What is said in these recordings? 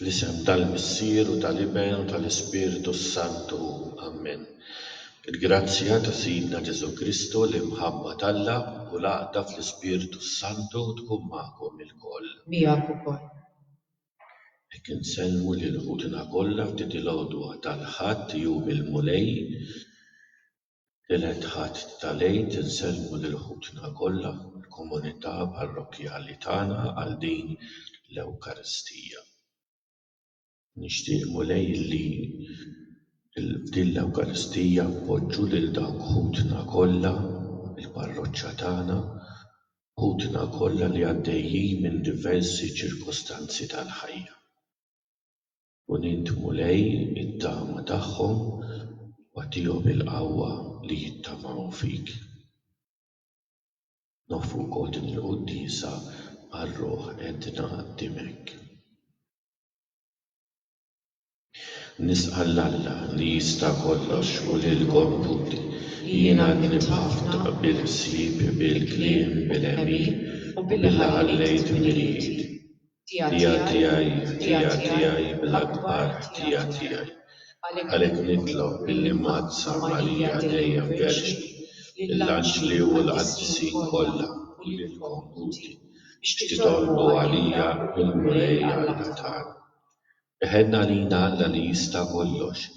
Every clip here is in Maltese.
Fl-isem tal-Missier u tal-Iben u tal-Ispirtu s-Santu, Ammen. Il-grazzja ta' Sidna Ġesù Kristu, l-imħabba t'Alla u l-għaqda fl-Ispirtu s-Santu tkun magħkom ilkoll. Miegħek ukoll. Hekk insellmu lil ħutna kollha f'di l-għodwa tal-Ħadd, Jum il-Mulej. Tielet Ħadd tal-Għid insellmu lil ħutna kollha fil-komunità parrokkjali tagħna għal din l-Ewkaristija. Nixtieq, Mulej, li f'din l-Ewkaristija npoġġu lil dawk ħutna kollha fil-parroċċa tagħna, ħutna kollha li għaddejjin minn diversi ċirkustanzi tal-ħajja. U nindmu lej it-tama tagħhom, u agħtihom il-qawwa li jittamaw fik. Noffru wkoll din il-quddiesa għar-ruħ edna qdimek. Nisqa' 'l Alla li jista' kollox u lilkom tutti. Jien għadni b'ħafna bil-ħsieb, bil-kliem, bil-għemil, u billi ħallejt mill-id. Dija tiegħi, Dija tiegħi bl-akbar ħtija tiegħi, għalhekk nitlob billi mgħazzam għalija dejjem Verġni, lill-anġli u l-qaddisin kollha u lilkom ħuti, biex titolbu għalija mill-Mulej Alla tagħna. Iħenn għalina Alla li jista' kollox,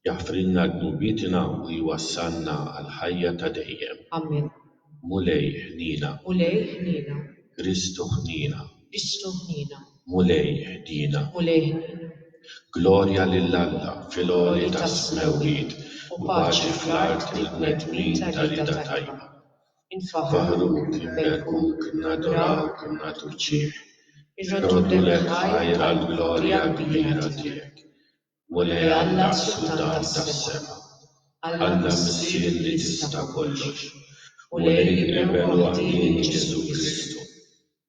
jaħfrilna dnubietna u jwassalna għall-ħajja ta' dejjem. Amen. Mulej, ħniena. Mulej, ħniena. Kristu, ħniena. Kristu, ħniena. Mulej, ħniena. Mulej, ħniena. Glorja lil Alla fil-għoli tas-smewwiet u paċi fl-art lill-bnedmin ta' rieda tajba. infaħħruk, inberbkuk, nadurawk, nagħtuk ġieħ, irroddulek ħajr għall-glorja kbira tiegħek, Mulej Alla s-Sultan tas-sema, Alla Missier li tista' kollox, Mulej l-Iben waħdieni Ġesù Kristu.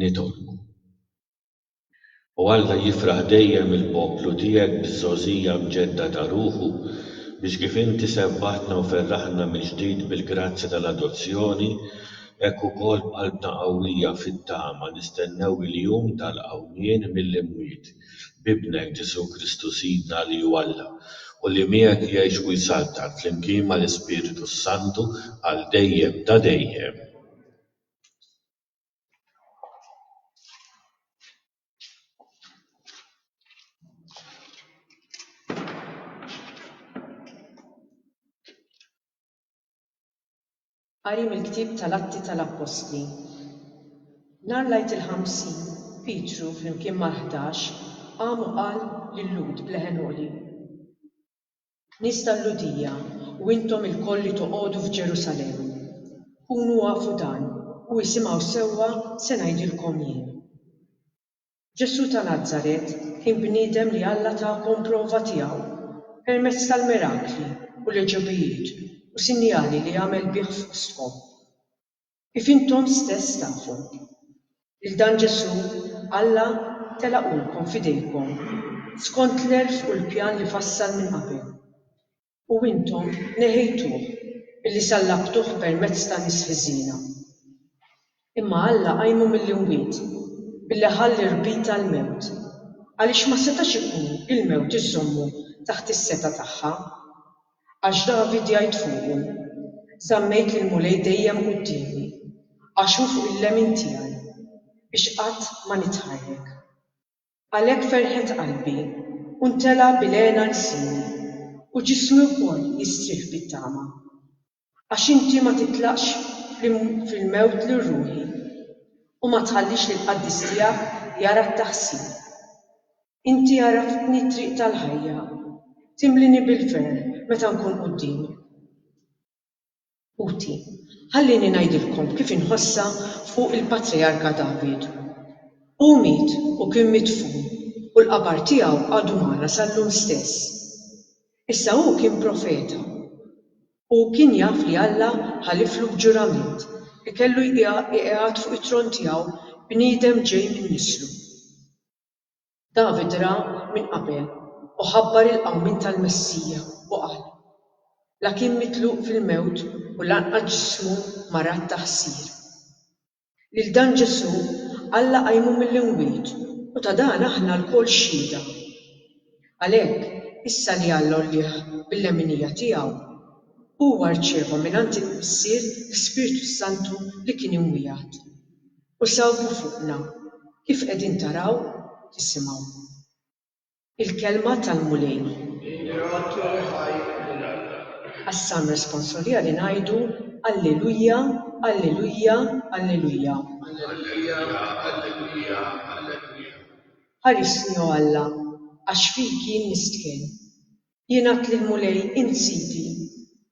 nitolbu. O Alla, jifraħ dejjem il-poplu tiegħek biż-żgħożija mġedda ta' ruħu, biex kif inti sebbaħtna u ferraħtna mill-ġdid bil-grazzja tal-adozzjoni, hekk ukoll b'qalbna qawwija fit-tama nistennew il-jum tal-qawmien mill-imwiet, b'Ibnek, Ġesù Kristu Sidna, li hu Alla, u li miegħek jgħix u jsaltan, flimkien mal-Ispirtu s-Santu, għal dejjem ta' dejjem. Qari mill-Ktieb tal-Atti tal-Appostli Nhar l-Għid il-Ħamsin, Pietru flimkien mal-Ħdax qam u qal lil Lhud b'leħen għoli, Nies tal-Lhudija, u intom ilkoll li toqogħdu f'Ġerusalemm, kunu afu dan u isimgħu sewwa se ngħidilkom jien. Ġesù ta' Nazaret kien bniedem li Alla takom prova tiegħu permezz tal-mirakli u l-għeġubijiet u sinjali li għamel bih fostkom. Kif intom stess tafu, lil dan Ġesù Alla telaqulkom f'idejkom skont l-għerf u l-pjan li fassal minn qabel, u intom neħejtuh billi sallabtuh permezz ta' nies ħżiena. Imma Alla qajmu mill-imwiet billi ħa l-irbit tal-mewt, għaliex ma setax ikun il-mewt iżżommu taħt is-setgħa tagħha. Għax David jgħid fuqu, Żammejt lill-Mulej dejjem quddiemi, għax hu fuq il-lemin tiegħi, biex qatt ma nitħarrek. Għalhekk ferħet qalbi, u ntela' bil hena lsini, u ġismi wkoll jistrieħ bit-tama. Għax inti ma titlaqx fil-mewt lil ruħi, u ma tħallix lill-qaddis tiegħek jara t-taħsir. Inti għarraftni t-triq tal-ħajja. Timlini bil-ferħ meta nkun quddiem. Ħuti, ħallieni ngħidilkom kif inħossha fuq il-Patrijarka David. Hu miet u kien midfun u l-qabar tiegħu għadu magħna sal-lum stess. Issa hu kien profeta. Hu kien jaf li Alla ħaliflu b'ġurament li kellu jqigħad fuq it-tron tiegħu bniedem ġej minn nislu. David ra minn qabel u ħabbar il-qawmien tal-Messija u qal, La kien mitluq fil-mewt u lanqas ġismu marat ta' ħsir. Lil dan Ġesù, Alla qajmu mill-imwiet u ta' dan aħna lkoll xhieda. Għalhekk, issa li Alla għollieh bil-leminija tiegħu, huwa rċieva mingħand il-Missier l-Ispirtu s-Santu li kien imwiegħed. U sawtu fuqna, kif qegħdin taraw u tisimgħu. Il-Kelma tal-Mulej. Ingrato e ħaj lil Alla. Għas-Salm Responsoriali ngħidu, Alleluia, Alleluia, Alleluia. Alleluia, Alleluia, Alleluia. Ħarisni, o Alla, għax fik jien nistħen. Jien għedt lill-Mulej, Int sidi,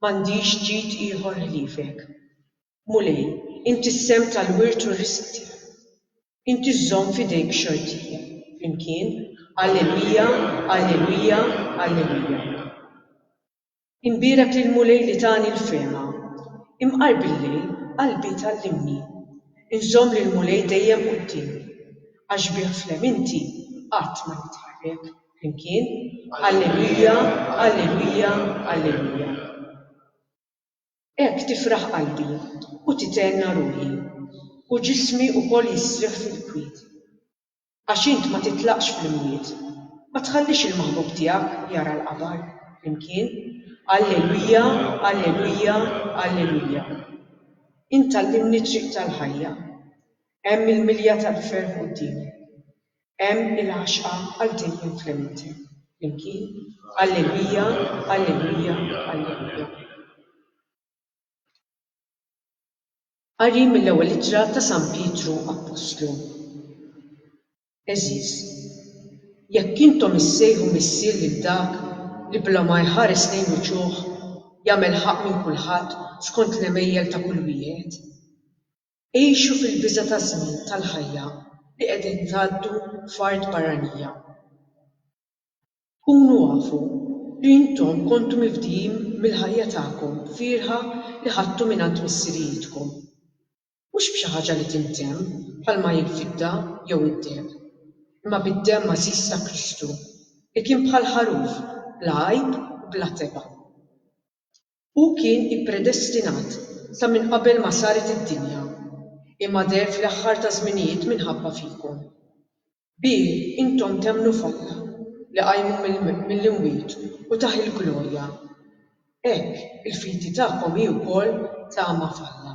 m'għandix ġid ieħor ħliefek. Mulej, inti s-sehem tal-wirt u r-risq tiegħi. Inti żżomm f'idejk xortija. Flimkien, Alleluja, alleluja, alleluja. Inbierek lill-Mulej li tani l-fehma. Imqar bil-lejl, qalbi tgħallimni. Inżomm lill-Mulej dejjem quddiemi. Għax bih fl-hemm inti qatt ma nitħarrek. Flimkien, Alleluja, alleluja, alleluja. Hekk tifraħ qalbi u tithenna ruħi, u ġismi wkoll jistrieħ fil-kwiet. Għax int ma titlaqx fl-imwiet, ma tħallix il-maħbub tiegħek jara l-qabar, flimkien, Alleluia, Alleluia, Alleluia. Int tgħallimni t-triq tal-ħajja. Hemm il-milja tal-ferħ quddiemek. Hemm il-għaxqa għal din l-infiniti. Flimkien, Alleluja, Alleluja, Alleluja. Qari mill-Ewwel Ittra ta' San Pietru Appostlu Għeżież, jekk intom issejħu Missier lil dak li bla ma jħares lejn uċuħ jagħmel ħaqq minn kulħadd skont l-għemejjel ta' kull wieħed, Igħixu fil-biża' taż-żmien tal-ħajja li qegħdin tgħaddu f'art barranija. Kunu afu li intom kontu mifdijin mill-ħajja tagħkom fierħa li ħadtu mingħand missirijietkom. Mhux b'xi ħaġa li tintemm bħalma hi l-fidda jew id-deheb, imma bid-demm għażiż ta' Kristu, li kien bħal ħaruf bla għajb u bla tebgħa. Hu kien ippredestinat sa minn qabel ma saret id-dinja, imma deher fl-aħħar taż-żminijiet minħabba fikom. Bih intom temmnu f'Alla, li qajmu mill-imwiet u tah il-glorja. Hekk, il-fidi tagħkom hi wkoll tama f'Alla.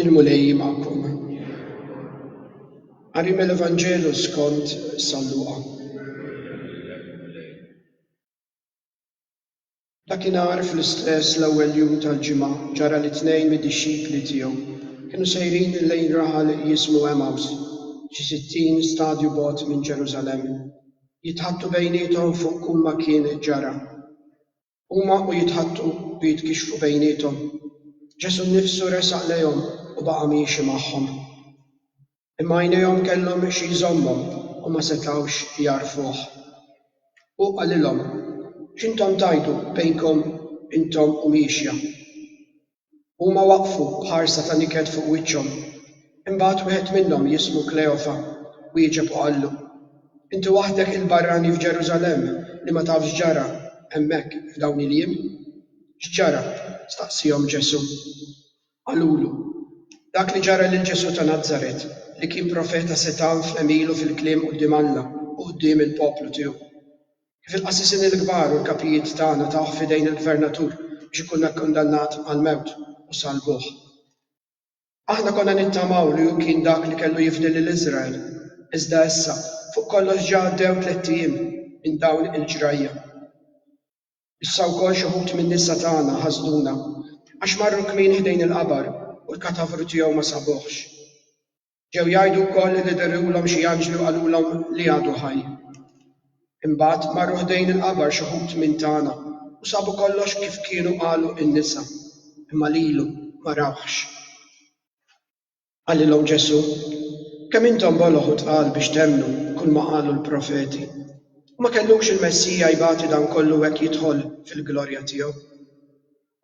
Il-Mulej magħkom. Qari mill-Evanġelu skont San Luqa. Dakinhar fl-istess l-ewwel jum tal-ġimgħa ġara li tnejn mid-dixxipli tiegħu kienu sejrin lejn raħal jismu Emaws, xi sittin stadju bogħod minn Ġerusalemm. Jitħaddtu bejniethom fuq kull ma kien ġara. Huma u jitħaddtu u jitkixxfu bejniethom. Ġesù nnifsu resaq lejhom u baqa' miexi magħhom. Imma għajnejhom kellhom xi jżommhom u ma setgħux jagħrfuh. Hu qalilhom, X'intom tgħidu bejnkom intom u miexja? Huma waqfu b'ħarsa ta' niket fuq wiċċhom. Imbagħad wieħed minnhom jismu Kleofa wieġeb u qallu, Inti waħdek il-barrani f'Ġerusalemm li ma taf x'ġara hemmhekk f'dawn il-jiem? X'ġara? staqsiehom Ġesù. Qalulu, Dak li ġara lil Ġesù ta' Nazaret, li kien profeta setgħan f'għemilu fil-kliem quddiem Alla u quddiem il-poplu tiegħu. Kif il-qassisin il-kbar u l-kapijiet tagħna tawh f'idejn il-gvernatur biex ikun akkundannat għall-mewt u salbuh. Aħna konna nittamaw li hu kien dak li kellu jifdi lil Iżrael, iżda issa fuq kollox ġa għaddew tlett ijiem minn dawn il-ġrajja. Issa wkoll xi wħud min-nisa tagħna ħasduna għax marru kmieni ħdejn il-qabar u l-katavru tiegħu ma sabuhx. Ġew jgħidu wkoll li dehruhom xi anġli u qalulhom li għadu ħaj. Imbagħad marru ħdejn il-qabar xi wħud minn tagħna u sabu kollox kif kienu qalu n-nisa, imma lilu ma rawhx. Qalilhom Ġesù, Kemm intom boloh u tqal biex temmnu kulma qalu l-profeti! U ma kellux il-Messija jbati dan kollu u hekk jidħol fil-glorja tiegħu?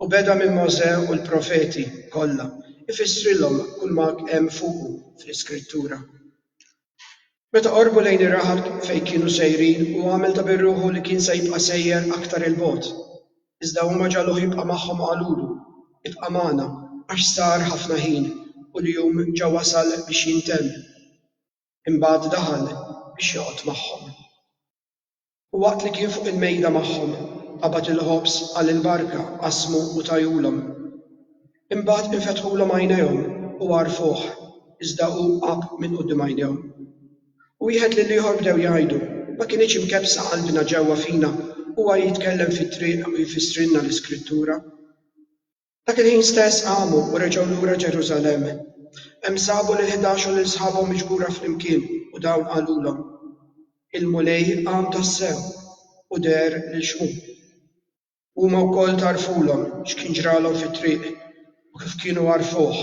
U beda minn Mosè u l-profeti kollha jfissrilhom kulma hemm fuqu fl-Iskrittura. Meta qorbu lejn ir-raħal fejn kienu sejrin, hu għamel ta' bir-ruħu li kien se jibqa' sejjer aktar 'il bogħod. Iżda huma ġagħluh jibqa' magħhom u qalulu, Ibqa' magħna, għax sar ħafna ħin, u l-jum ġa wasal biex jintemm. Imbagħad daħal biex joqgħod magħhom. U waqt li kien fuq il-mejda magħhom, qabad il-ħobż, għal il-barka, qasmu u tajulhom. Imbagħad infetħulhom għajnejhom u għarfuh, iżda hu għab minn quddiem għajnejhom. Wieħed lill-ieħor bdew jgħidu, Ma kinitx imkebbsa qalbna ġewwa fina, huwa jitkellem fit-triq u jfissrilna l-Iskrittura? Dak il-ħin stess qamu u reġgħu lura Ġerusalemm. Hemm sabu lill-ħdax u lil sħabhom miġbura flimkien u dawn qalulhom, Il-Mulej qam tassew u deher lil Xmun. Huma wkoll tgħarrfulhom x'kien ġralhom fit-triq u kif kienu għarfuh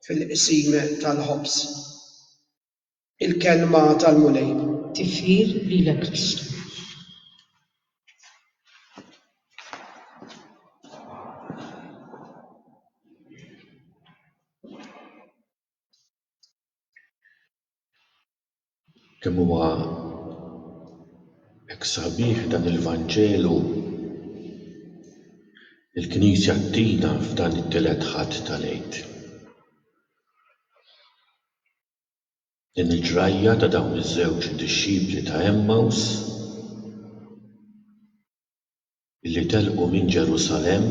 fil-Qsim tal-Ħobż. Il-Kelma tal-Mulej. Tifħir lilek Kristu. Kemm huwa hekk sabiħ dan il-Vanġelu li l-Knisja ttina f'dan it-tielet Ħadd tal-Għid. Din il-ġrajja ta' dawn iż-żewġ dixxipli ta' Għemmaws li telqu minn Ġerusalemm,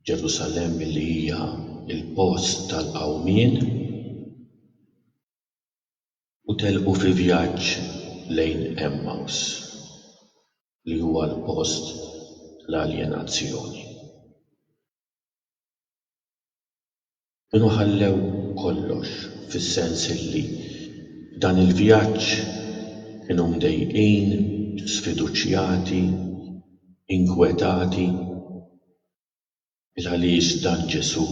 Ġerusalemm li hija l-post tal-qawmien, u telqu fi vjaġġ lejn Għemmaws li huwa l-post tal-aljenazzjoni. Kienu ħallew kollox, fis-sens li f'dan il-vjaġġ kienu mdejqin, sfiduċjati, inkwetati. Il-għaliex dan Ġesù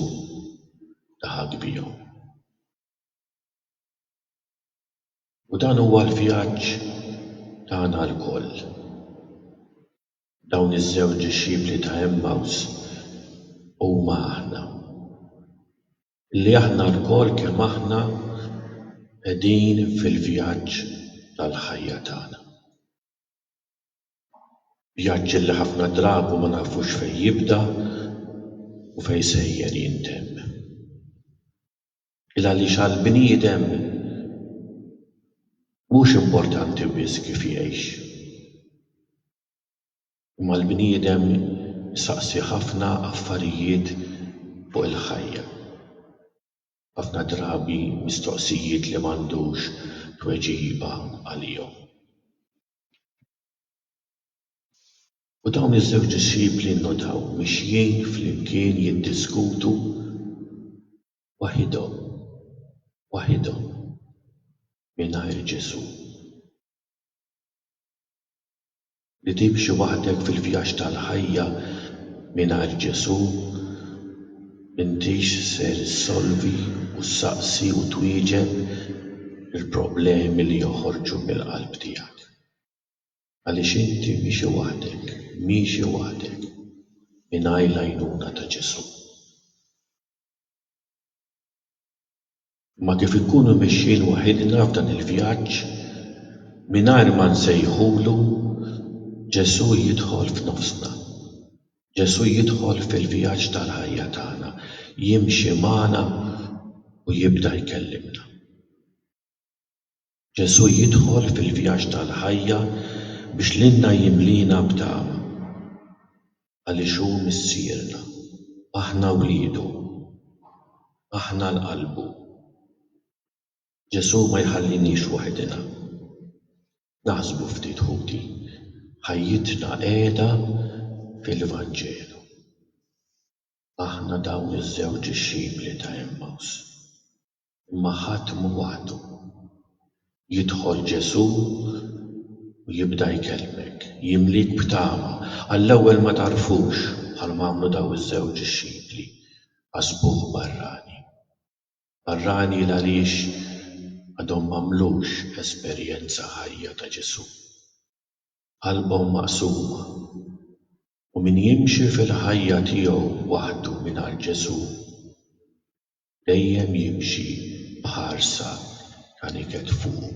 laħaq bihom. U dan huwa l-vjaġġ tagħna lkoll. Dawn iż-żewġ dixxipli ta' Għemmaws huma aħna. Li aħna lkoll kemm aħna qegħdin fil-vjaġġ tal-ħajja tagħna. Vjaġġ li ħafna drabi ma nafux fejn jibda u fejn sejjer jintemm. Il għaliex għall-bniedem mhux importanti biss kif jgħix. Imma l-bniedem isaqsi ħafna affarijiet fuq il-ħajja. Ħafna drabi mistoqsijiet li m'għandux tweġiba għalihom. U dawn iż-żewġ dixxipli nnutaw mixjin flimkien jiddiskutu Waħidhom, waħidhom, mingħajr Ġesù. Li timxi waħdek fil-vjaġġ tal-ħajja mingħajr Ġesù, m'intix ser issolvi u ssaqsi u twieġeb il-problemi li joħorġu mill-qalb tiegħek. Għaliex inti mixi waħdek, miexi waħdek, mingħajr l-għajnuna ta' Ġesù. Imma kif inkunu mexjin waħidna f'dan il-vjaġġ mingħajr ma nsejħulu Ġesù jidħol f'nofsna. Ġesù jidħol fil-vjaġġ tal-ħajja tagħna, jimxi magħna u jibda jkellimna. Ġesù jidħol fil-vjaġġ tal-ħajja biex lilna jimliena b'tama. Għaliex hu Missierna. Aħna wliedu. Aħna l-qalbu. Ġesù ma jħalliniex waħidna. Naħsbu ftit ħuti. Ħajjitna qiegħda fil-Vanġelu. Aħna dawn iż-żewġ dixxipli ta' Għemmaws. Imma ħadd mhu waħdu. Jidħol Ġesù u jibda jkellmek, jimliek b'tama. Għall-ewwel ma tagħrfux, bħalma għamlu dawn iż-żewġ dixxipli, ħasbuh barrani. Barrani 'l għaliex għadhom m'għamlux esperjenza ħajja ta' Ġesù. Qalbhom maqsuma. U min jimxi fil-ħajja tiegħu waħdu mingħajr Ġesù, Dejjem jimxi b'ħarsa ta' niket fuqu.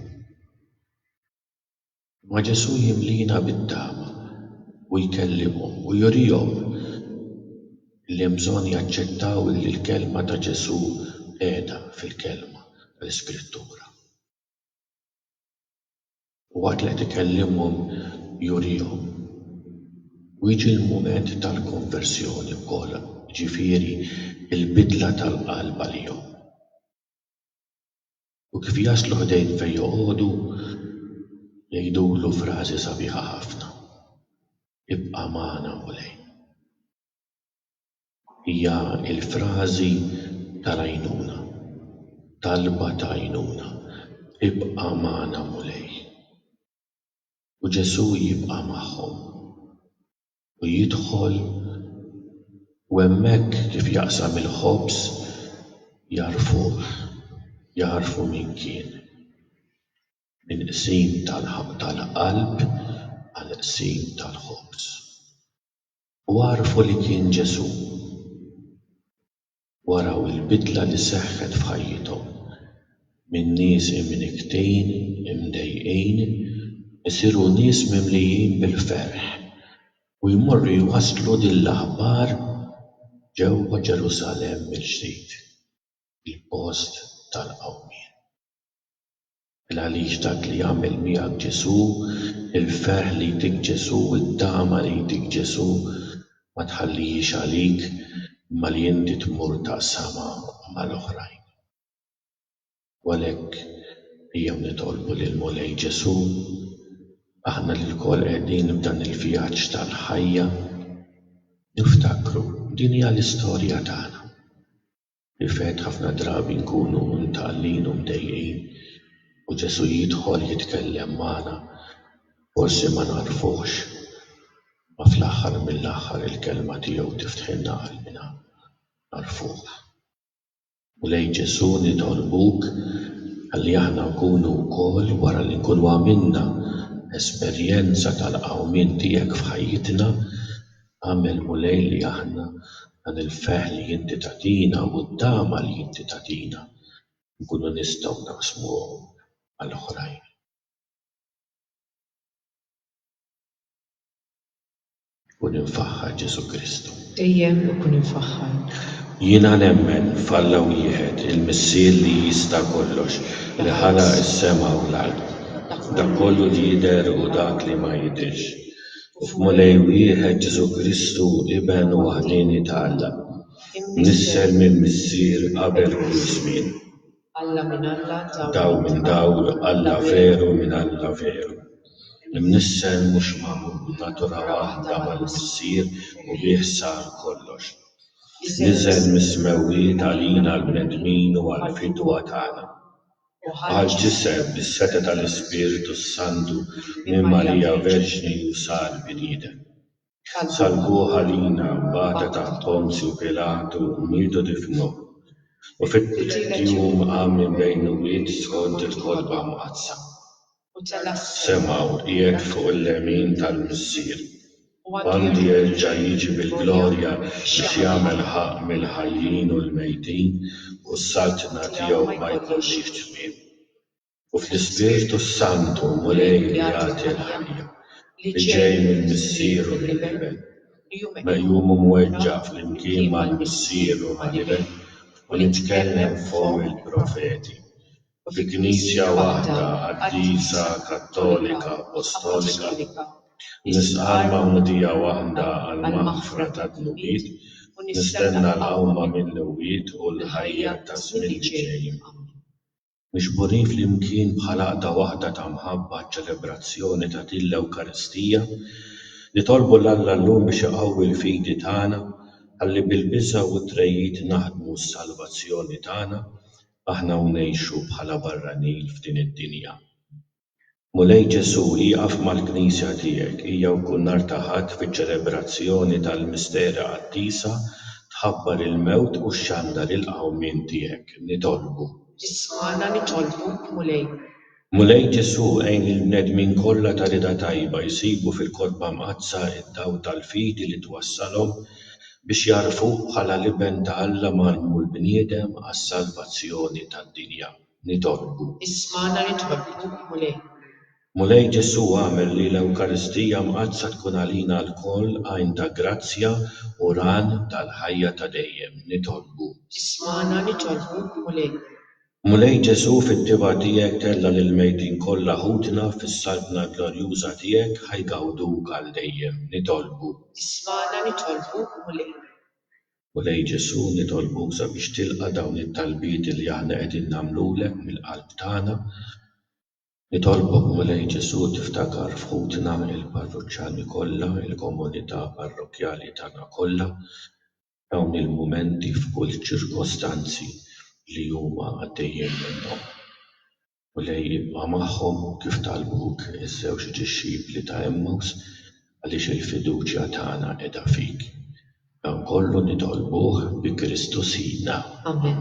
Imma Ġesù jimliena bit-tama u jkellimhom u jurihom li hemm bżonn jaċċettaw li l-kelma ta' Ġesù qiegħda fil-kelma tal-Iskrittura. U waqt li qed ikellimhom jurihom. U jiġi l-mument tal-konversjoni wkoll, jiġifieri l-bidla tal-qalb għalihom. U kif jaslu ħdejn fejn joqogħdu, jgħidulu frażi sabiħa ħafna, Ibqa' magħna Mulej. Hija l-frażi tal-għajnuna, talba ta' għajnuna, Ibqa' magħna Mulej. U Ġesù jibqa' magħhom u jidħol u hemmhekk kif jaqsam il-ħobż jagħrfuh, jagħrfu min kien. Minn qsim tal-qalb għal qsim tal-ħobż. U għarfu li kien Ġesù. U araw il-bidla li seħħet f'ħajjithom, minn nies imnikktin, imdejqin, isiru nies mimlijin bil-ferħ u jmorru jwasslu din l-aħbar ġewwa Ġerusalemm mill-ġdid, il-post tal-qawmien. Il-għaliex dak li għamel miegħek Ġesù, il-ferħ li jtik Ġesù, it-tama li jtik Ġesù, ma tħallihiex għalik, imma li inti tmur taqsamha mal-oħrajn. U għalhekk ejjew nitolbu lill-Mulej Ġesù, aħna li lkoll qegħdin f'dan il-vjaġġ tal-ħajja, niftakru din hija l-istorja tagħna. Fil-fatt, ħafna drabi nkunu mtgħallin u mdejjqin, u Ġesù jidħol jitkellem magħna. Forsi ma nagħrfuhx, imma fl-aħħar mill-aħħar il-Kelma tiegħu tiftħilna qalbna u nagħrfuh. Mulej Ġesù, nitolbuk ħalli aħna nkunu wkoll, wara li nkunu għamilna esperjenza tal-qawmien tiegħek f'ħajjitna, Agħmel, Mulej, li aħna, dan il-ferħ li inti tagħtina u t-tama li inti tagħtina, inkunu nistgħu naqsmuhom mal-oħrajn. Kun imfaħħar, Ġesù Kristu. Qejjem u kun imfaħħar. Jiena nemmen f'Alla wieħed, il-Missier li jista' kollox, li ħalaq is-sema u l-art, dak kollu li jidher u dak li ma jidhirx. u f'Mulej wieħed Ġesù Kristu Iben waħdieni ta' Alla, mnissel mill-Missier qabel kull żmien. Dawl minn dawl, Alla veru minn Alla veru. Imnissel mhux magħmul, natura waħda mal-Missier u bih sar kollox. Niżel mis-smewwiet għalina l-bnedmin u għall-fidwa tagħna. Għal ġisem bis-setgħa tal-Ispirtu s-Santu minn Marija Verġni u sar bniedem. Salbuh għalina, bata taħt Ponzju Pilatu, mietu difnuh, u fit-tielet jum qam minn bejn l-imwiet skont il-Kotba Mqaddsa. semgħu qiegħed fuq il-lemin tal-Missier, u għandu jerġa' jiġi bil-glorja biex jagħmel ħaqq mill-ħajjin u l-mejtin, u s-saltna tiegħu ma jkollhiex tmiem. U fl-Ispirtu s-Santu, Mulej li jagħti l-ħajja, li ġej mill-Missier u mill-Iben, meqjum u mweġġa' flimkien mal-Missier u mal-Iben, u nitkellem f'fomm il-profeti, fi Knisja waħda qaddisa Kattolika Appostolika, nisqal magħmudija waħda għall-maħfra tad-dnubiet, u nistenna l-qawma mill-imwiet u l-ħajja taż-żmien li ġej. Ammen. Miġburin flimkien bħal għaqda waħda ta' mħabba għaċ-ċelebrazzjoni ta' din l-Ewkaristija, nitolbu 'l Alla llum biex iqawwi l-fidi tagħna ħalli bil-biża' u t-tregħid naħdmu s-salvazzjoni tagħna aħna u ngħixu bħala barranin f'din id-dinja. Mulej Ġesu' ieqaf mal-Knisja tiegħek hija u kull nhar ta' Ħadd fiċ-ċelebrazzjoni tal-Misteri Qaddisa tħabbar il-mewt u xxandar il-qawmien tiegħek. Nitolbu. Ismagħna nitolbuk Mulej. Mulej Ġesù, għin lill-bnedmin kollha ta' rieda tajba jsibu fil-Kotba Mqaddsa d-dawl tal-fidi li twassalhom biex jagħrfuk bħala l-Iben ta' Alla mgħallmu l-bniedem għas-salvazzjoni tad-dinja. Nitolbu. Ismagħna nitolbuk, Mulej. Mulej Ġesù, agħmel li l-Ewkaristija Mqaddsa tkun għalina lkoll għajn ta' grazzja u ran tal-ħajja ta' dejjem. Nitolbu. Ismagħna nitolbuk, Mulej. Mulej Ġesù fit-tibgħa tiegħek tella' lill-mejtin kollha ħutna fis-Saltna glorjuża tiegħek ħa jgawduk għal dejjem. Nitolbu. Ismagħna nitolbuk Mulej. Mulej Ġesù nitolbuk sabiex tilqa' dawn it-talbiet li aħna qegħdin nagħmlulek mill-qalb tagħna. Nitolbok Mulej Ġesù tiftakar f'ħutna il-parruċċani kollha, il-komunità parrokkjali tagħna kollha. Dawn il-mumenti f'kull ċirkostanzi li huma għaddejjin minnhom. Mulej ibqa' magħhom kif talbuk iż-żewġ dixxipli ta' Emmaws għaliex il-fiduċja tagħna qiegħda fik. Dan kollu nitolbuh bi Kristu Sidna. Amen.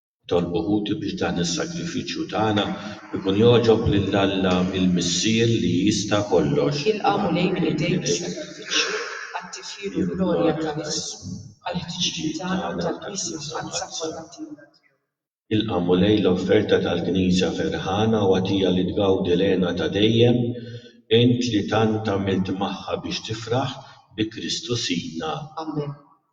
Tolbu ħuti biex dan is-sagrifiċċju tagħna jkun jogħġob lil Alla l-Missier li jista' kollox. Jilqa' Mulej minn idejk is-sagrifiċċju għat-tifħir u glorja ta' ismu, għall-ħtiġijiet tagħna u tal-Knisja Mqaddsa kollha tiegħu. Jilqa' Mulej l-offerta tal-Knisja ferħana u agħtija li tgawdi l-hena ta' dejjem, int li tant għamilt magħha biex tifraħ, bi Kristu Sidna. Amen.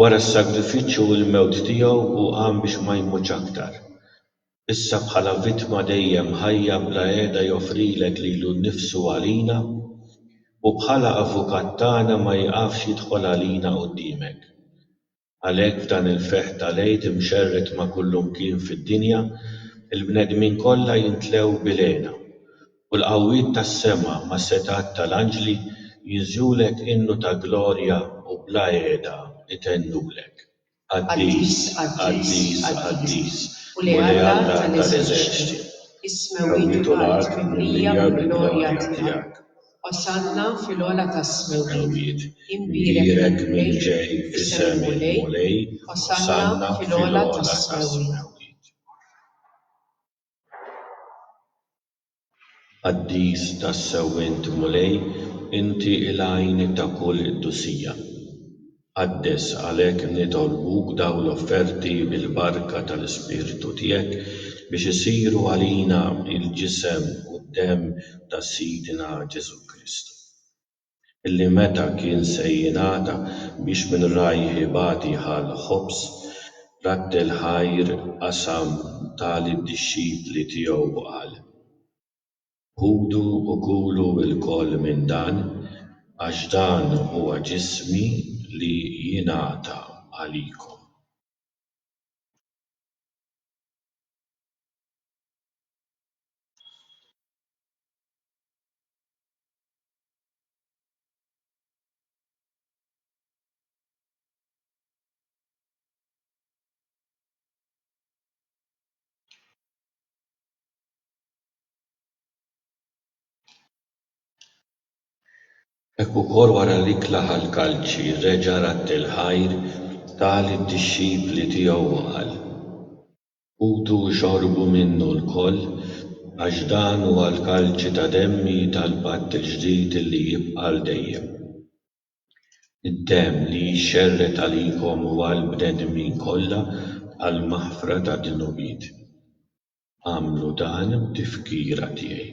Wara s-sagrifiċċju u l-mewt tiegħu hu qam biex ma jmutx aktar. Issa bħala vittma dejjem ħajja bla qiegħda joffrilek lilu nnifsu għalina, u bħala Avukat tagħna ma jieqafx jidħol għalina quddiemek. Għalhekk f'dan il-ferħ tal-Għid imxerred ma' kullimkien fid-dinja, il-bnedmin kollha jimtlew bil-hena U l-qawwiet tas-sema mas-setgħat tal-anġli jinżlulek innu ta' glorja u bla għeda itennulek, Qaddis, qaddis, qaddis, Mulej Alla tal-eżerċti, is-smewwiet u l-art mimlija mill-glorja tiegħek. Osanna fil-ogħla tas-smewwiet, imbierek min ġej f'isem il-Mulej, osanna fil-ogħla tas-smewwiet. Qaddis tassew int, Mulej, inti l-għajn ta' kull qdusija. Qaddes għalhekk nitolbuk dawn l-offerti bil-barka tal-Ispirtu tiegħek biex isiru għalina l-ġisem u d-demm ta' Sidna Ġesù Kristu. li meta kien se jingħata biex min rajh ibati ħall-ħobż, rattel ħajr qasam ta' lid-dixxipli tiegħu u qal, Ħudu u kulu lkoll minn dan, għax dan huwa ġismi li jingħata għalikom. Hekk ukoll wara li klaħa l-kalċi reġa' radd il-ħajr ta' lid-dixxipli tiegħu u qal. Ħutu u xorbu minnu lkoll, għax dan huwa l-kalċi ta' demmi tal-patt il-ġdid li jibqa' għal dejjem. Id-demm li jixxerred għalikom u għall-bnedmin kollha għall-maħfra tad-dnubiet. Agħmlu dan b'tifkira tiegħi.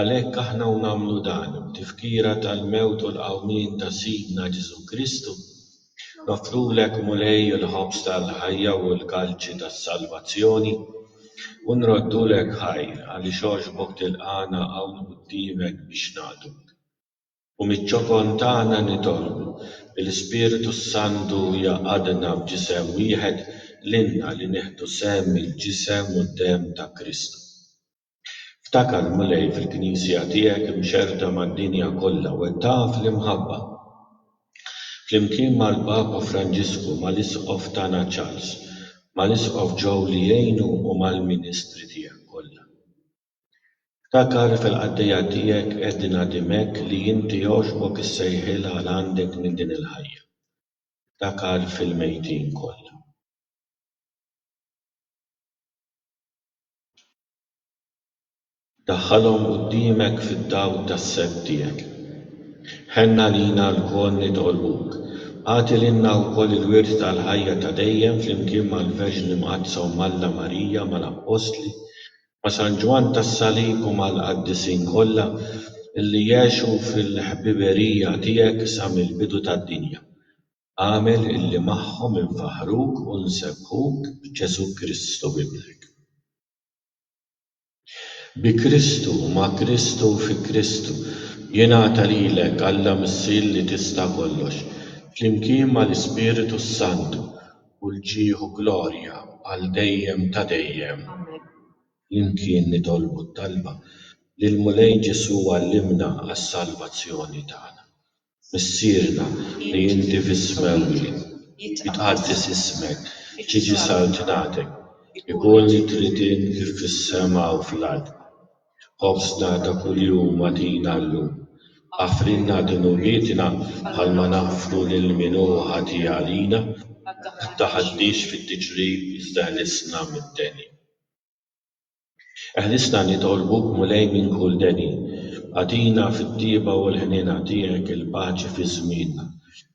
Għalhekk aħna u nagħmlu dan, b'tifkira tal-mewt u l-qawmien ta' Sidna Ġesù Kristu, noffrulek, Mulej, il-ħobż tal-ħajja u l-kalċi tas-salvazzjoni, u nroddulek ħajr, għaliex għoxbok tilqagħna hawn quddiemek biex naqduk. U miċ-ċokon tagħna nitolbu li l-Ispirtu s-Santu jgħaqqadna f'ġisem wieħed, lilna li nieħdu sehem mill-ġisem u d-demm ta' Kristu. Ftakar, Mulej, fil-Knisja tiegħek imxerrda mad-dinja kollha, wettaqha fl-imħabba. Flimkien mal-Papa Franġisku, mal-Isqof tagħna Charles, mal-Isqof Joe li jgħinu u mal-ministri tiegħek kollha. Ftakar, fil-qaddejja tiegħek Edna Dimech li inti għoġbok issejħilha għal għandek minn din il-ħajja. Ftakar fil-mejtin kollha. Daħħalhom quddiemek fid-dawl tas-sett tiegħek. Ħenn għalina lkoll nitolbuk. Agħti lilna wkoll il-wirt tal-ħajja ta' dejjem flimkien mal-Verġni Mqaddsa Omm Alla Marija, mal-Appostli, ma' San Ġwann tas-Salib u mal-Qaddisin kollha li għexu fil-ħbiberija tiegħek sa mill-bidu tad-dinja. Agħmel illi magħhom infaħħruk u nsebbħuk b'Ġesù Kristu Ibnek. Bi Kristu, ma' Kristu u fi Kristu, jingħata lilek, Alla Missier li tista' kollox, flimkien mal-Ispiritu s-Santu, kull ġieħ u glorja għal dejjem ta' dejjem. Amen. Flimkien nitolbu t-talba li l-Mulej Ġesù għallimna għas-salvazzjoni tagħna. Missierna, li inti fis-smewwi, jitqaddes ismek, tiġi saltnatek, ikun li trid int kif fis-sema u fl-art. Ħobżna ta' kuljum agħtina llum. Aħfrilna dunubietna bħalma naħfru lil min hu ħati għalina. Ma tdaħħalniex fit-tiġrib iżda ħlisna mid-deni. Eħlisna nitolbuk Mulej minn kull deni, agħtina fit-tjieba u l-ħniena tiegħek il-paċi fi żmienna,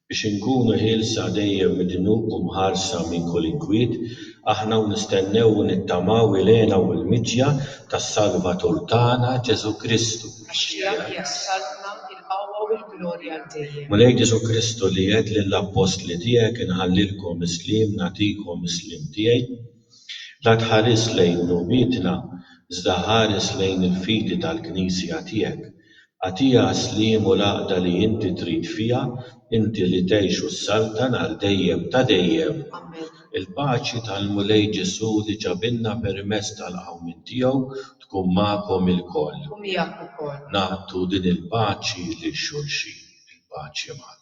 biex inkunu ħielsa dejjem mid-dnub u mħarsa minn kull inkwiet, aħna u nistennew u nittamaw il-hena u l-miġja tas-Salvatur tagħna Ġesù Kristu. Għax tiegħek hija s-saltna, il-qawwa u l-glorja għal dejjem. Mulej Ġesù Kristu li għedt lill-appostli tiegħek inħallilkom is-sliem nagħtikom is-sliem tiegħi, La tħares lejn dnubietna, iżda ħares lejn il-fidi tal-Knisja tiegħek. Agħtiha s-sliem u l-għaqda li inti trid fiha, inti li tgħix u ssaltan għal dejjem ta' dejjem. Amen. Il-paċi tal-Mulej Ġesù li ġabilna permezz tal-qawmien tiegħu tkun magħkom ilkoll. U miegħek ukoll. Nagħtu din il-paċi lil xulxin. Il-paċi magħkom.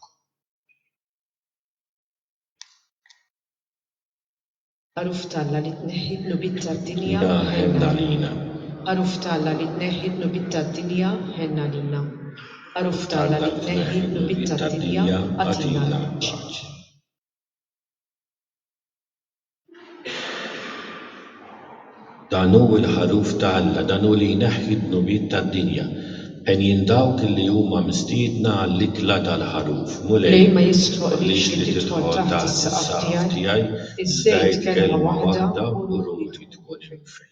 Għaruf t'Alla li tneħħi dnubiet tad-dinja, ħenn għalina. Għaruf t'Alla li tneħħi dnubiet tad-dinja, ħenn għalina. Għaruf t'Alla li tneħħi dnubiet tad-dinja, agħtina l-paċi. Dan hu l-Ħaruf ta' Alla, dan hu li jneħħi d-dnubiet tad-dinja. Għenjin dawk li huma mistiedna għall-ikla tal-Ħaruf. Mulej, ma jistħoqqlix li tidħol taħt is-saqaf tiegħi, iżda għid kelma waħda u ruħi tkun imnfejja.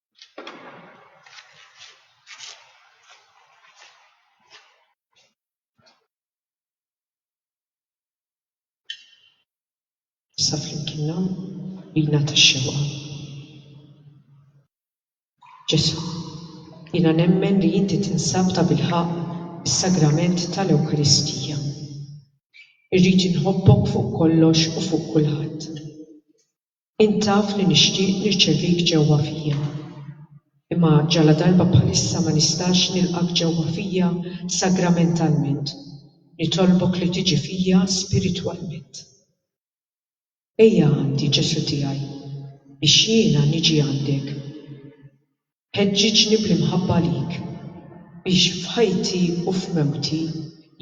Sa flimkien nam bina tax-xewqa. Ġesu', jiena nemmen li Inti tinsab tabilħaqq fis-Sagrament tal-Ewkaristija. Irrid inħobbok fuq kollox u fuq kulħadd. Int taf li nixtieq nirċevik ġewwa fija. Imma ġaladarba bħalissa ma nistax nilqgħek ġewwa fija sagramentalment, nitolbok li tiġi fija spiritwalment. Ejja għandi, Ġesù tiegħi, biex jiena niġi għandek. Ħeġġiġni bl-imħabba għalik. Biex f'ħajti u f'mewti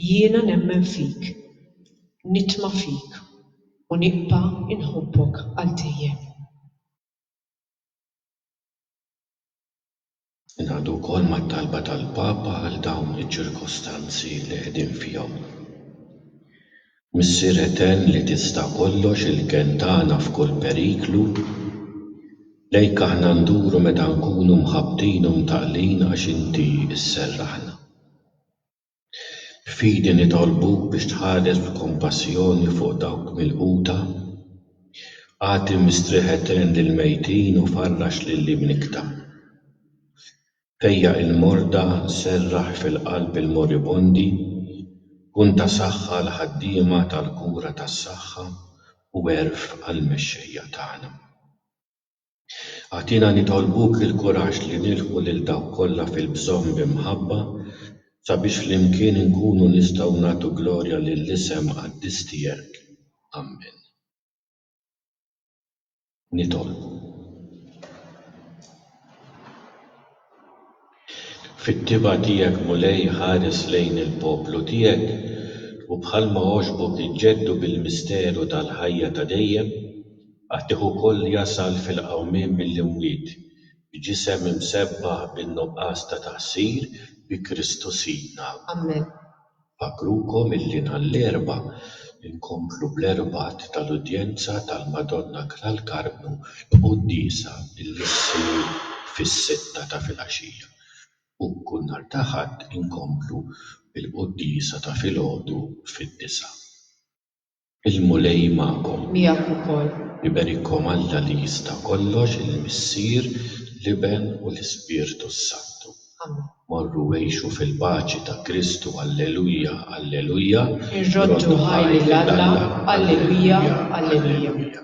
jiena nemmen fik, nitma' fik u nibqa' inħobbok għal dejjem. Ingħaqdu wkoll mat-talba tal-Papa għal dawn iċ-ċirkostanzi li qegħdin fihom. Missier etern li tista' kollox il-kenn tagħna f'kull periklu, lejk aħna nduru meta nkunu mħabbtin u mtaqqlin għax inti sserraħna. B'fidi nitolbuk biex tħares b'kompassjoni fuq dawk milquta, agħti mistrieħ etern lill-mejtin u farrax lil imnikta. Fejjaq il-morda, serraħ fil-qalb il-moribondi, kun ta' saħħa għall-ħaddiema tal-kura tas-saħħa u għerf għall-mexxejja tagħna. Agħtina nitolbuk il-kuraġġ li nilħqu lil dawk kollha fil-bżonn bi mħabba sabiex flimkien inkunu nistgħu nagħtu glorja lill-isem qaddis tiegħek. Ammen. nitolbu. Fit-tibgħa tiegħek, Mulej, ħares lejn il-poplu tiegħek, u bħalma għoġbok iġġeddu bil-misteru tal-ħajja ta' dejjem, agħtih ukoll jasal fil-qawmien mill-imwiet, b'ġisem imsebbaħ bin-nuqqas ta' taqsir, bi Kristu Sidna. Ammen. Infakrukom illi nhar l-Erbgħa nkomplu bl-Erbgħat tal-Udjenza tal-Madonna tal-Karmnu l-Quddiesa illi ssir fis-sitta ta' filgħaxija u kull nhar ta' Ħadd inkomplu bil-Quddiesa ta' filgħodu fid-disgħa. Il-Mulej magħkom. Miegħek ukoll. Iberikkom Alla li jista' kollox, il-Missier, l-Iben u l-Ispirtu s-Santu. Amen. Morru u għixu fil-paċi ta' Kristu, Alleluja, Alleluja. Irroddu ħajr lil Alla, Alleluja, Alleluja.